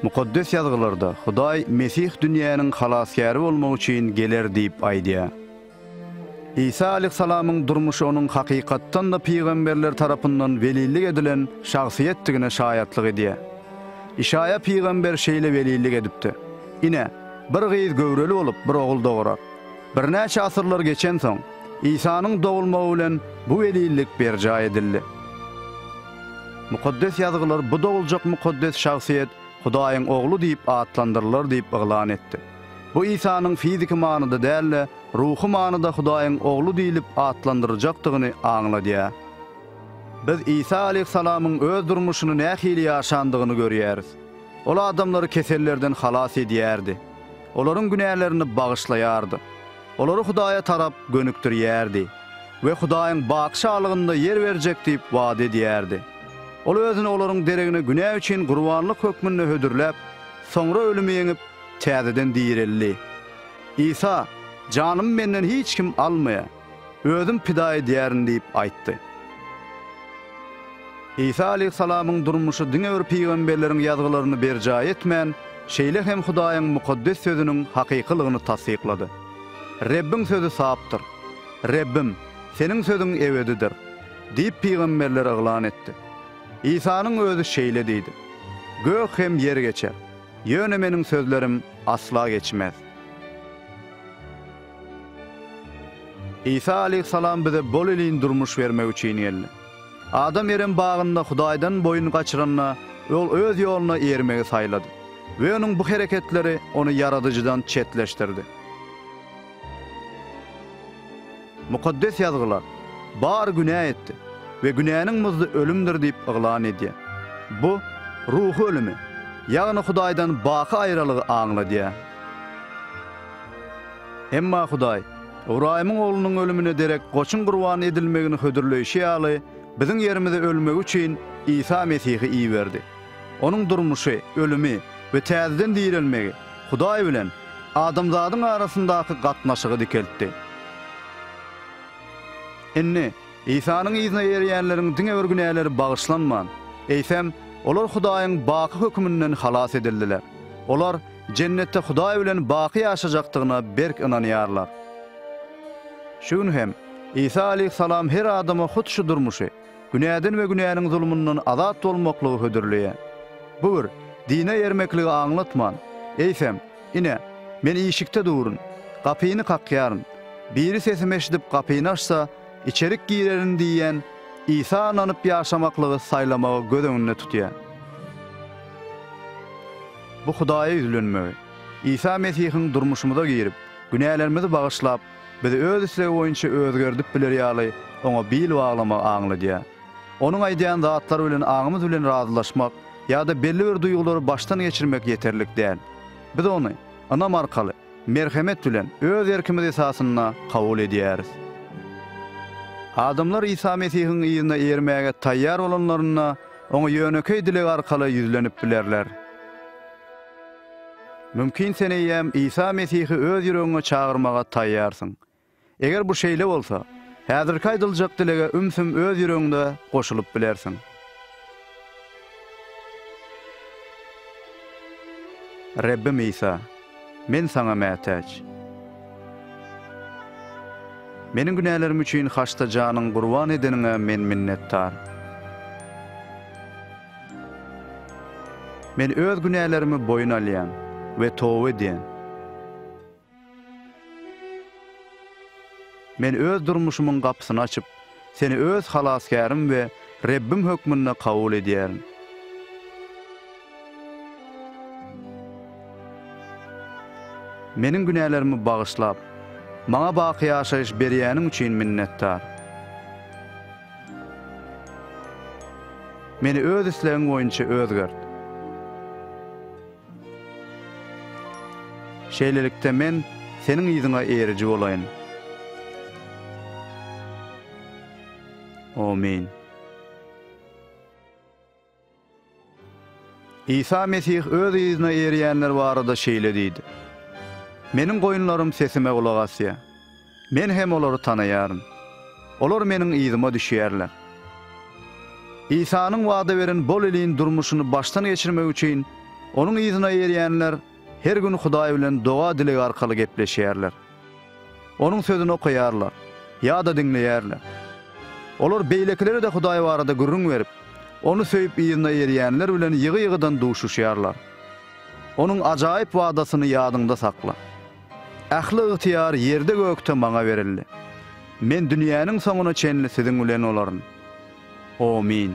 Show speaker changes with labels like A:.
A: Mukaddes Ýazgylarda Hudaý Mesih dünýäniň Halasgäri bolmak üçin geler diýip aýdýar. Isa aleýhissalamyň durmuşy onuň hakykatdan-da pygamberler tarapyndan welillik edilen şahsyýetdigine şaýatlyk edýär. Işaýa pygamber şeýle welillik edipdi, Ine, bir gyz göwreli bolup, bir ogul dogurar. Birnäçe asyrlar geçensoň, Isanyň dogulmagy bilen bu welillik berjaý edildi. Mukaddes Ýazgylar bu doguljak mukaddes şahsyýet Hudaýyň Ogly diýip atlandyrylar diýip yglan etdi. Bu Isanyň fiziki manyda däl-de, ruhy manyda Hudaýyň Ogly diýlip atlandyryljakdygyny aňladýar. Biz Isa aleýhissalamyň öz durmuşyny nähili ýaşandygyny görýäris. Ol adamlary kesellerden halas edýärdi. Olaryň günälerini bagyşlaýardy. olary Hudaýa tarap gönükdirýärdi we Hudaýyň Batyşalygynda ýer berjek diýip wada edýärdi. Ol özüni olaryň deregine günä üçin gurbanlyk hökmünde hödürläp, soňra ölümi ýeňip, täzeden direldi. Isa, Janymy menden hiç kim almaýar. Özüm pida edýärin diýip aýtdy. Isa aleýhissalamyň durmuşy diňe bir pygamberleriň ýazgylaryny berjaý etmän, şeýle hem Hudaýyň mukaddes Sözüniň hakykylygyny tassyklady. Rebbiň sözi sapdyr. Rebbim, Seniň sözüň ebedidir! diýip, pygamberler yglan etdi. Isanyň Özi şeýle diýdi, Gök hem ýer geçer, ýöne Meniň sözlerim asla geçmez. Isa aleýhissalam bize bolelin durmuş bermek üçin geldi. Adam Erem bagynda Hudaýdan boýun gaçyranda, ol öz ýoluna eýermegi saýlady we onuň bu hereketleri ony Ýaradyjydan çetleşdirdi. Mukaddes Ýazgylar, Bar günä etdi we günäniň muzdy ölümdir diýip yglan edýär. Bu, ruhy ölümi, ýagny Hudaýdan baky aýralygy aňladýar. Emma Hudaý, Ybraýymyň oglunyň ölümine derek goçuň gurban edilmegini hödürleýşi ýaly, biziň ýerimize ölmegi üçin Isa Mesihi iberdi. Onuň durmuşy, ölümi we täzeden direlmegi Hudaý bilen adamzadyň arasyndaky gatnaşygy dikeltdi. Indi, Isanyň yzyna eýerýänleriň diňe bir günäleri bagyşlanman, eýsem, olar Hudaýyň baky höküminden halas edildiler. Olar, Jennetde Hudaý bilen baky ýaşajakdygyna berk ynanýarlar. Şu gün hem Isa aleýhissalam her adama hut şu durmuşy, günäden we günäniň zulmundan azat bolmaklygy hödürleýär. Bu bir dine ermekligi aňlatman, eýsem, Ine, Men işikde durun, gapyny kakýaryn. Biri sesimi eşidip gapyny açsa, içerik girerin diýýän Isa ynanyp ýaşamaklygy saýlamagy göz öňünde tutýar. Bu Hudaýa ýüzlenmegi, Isa Mesihiň durmuşymyza girip, günälerimizi bagyşlap, bizi öz islegi boýunça özgerdip bileri ýaly oňa bil baglamagy aňladýar. Onuň aýdýan zatlary bilen aňymyz bilen razylaşmak ýa-da belli bir duýgulary başdan geçirmek ýeterlik däl. Biz ony, ynam arkaly, Merhemet bilen, öz erkimiz esasynda kabul edýäris. Adamlar Isa Mesihiň yzyna ermäge taýýar bolanlarynda, Oňa ýönekeý dileg arkaly ýüzlenip bilerler. Mümkin sen eýýäm Isa Mesihi öz ýüregiňe çagyrmaga taýýarsyň. Eger bu şeýle bolsa, häzirki aýdyljak dilege ümsüm öz ýüregiňde goşulyp bilersiň. Rebbim Isa, men Saňa mätäç. Meniň günälerim üçin haçda janyň gurban edeniňe men minnetdar. Men öz günälerimi boýun alýan we toba edýän. Men öz durmuşymyň gapysyny açyp, Seni öz Halasgärim we Rebbim hökmünde kabul edýärin. Meniň günälerimi bagyşlap, maňa baky ýaşaýyş berýäniň üçin minnetdar. Meni öz islegiň boýunça özgert. Şeýlelikde, men Seniň yzyňa eriji bolaýyn. Amin. Isa Mesih Öz yzyna erýänler barada şeýle diýdi, Meniň goýunlarym sesime gulak asýar. Men hem olary tanaýaryn. Olar Meniň yzyma düşýärler. Isanyň wada beren bol iliň durmuşyny başdan geçirmek üçin Onuň yzyna erýänler her gün Hudaý bilen doga-dileg arkaly gepleşýärler. Onuň Sözüni okaýarlar ýa-da diňleýärler. Olar beýlekilere-de Hudaý barada gürrüň berip, Ony söýüp yzyna erýänler bilen ýygy-ýygydan duşuşýarlar. Onuň ajaýyp wadasyny ýadyňda sakla. Ähli ygtyýar ýerde-gökde Maňa berildi. Men dünýäniň soňuna çenli siziň bilen bolaryn. Omyn.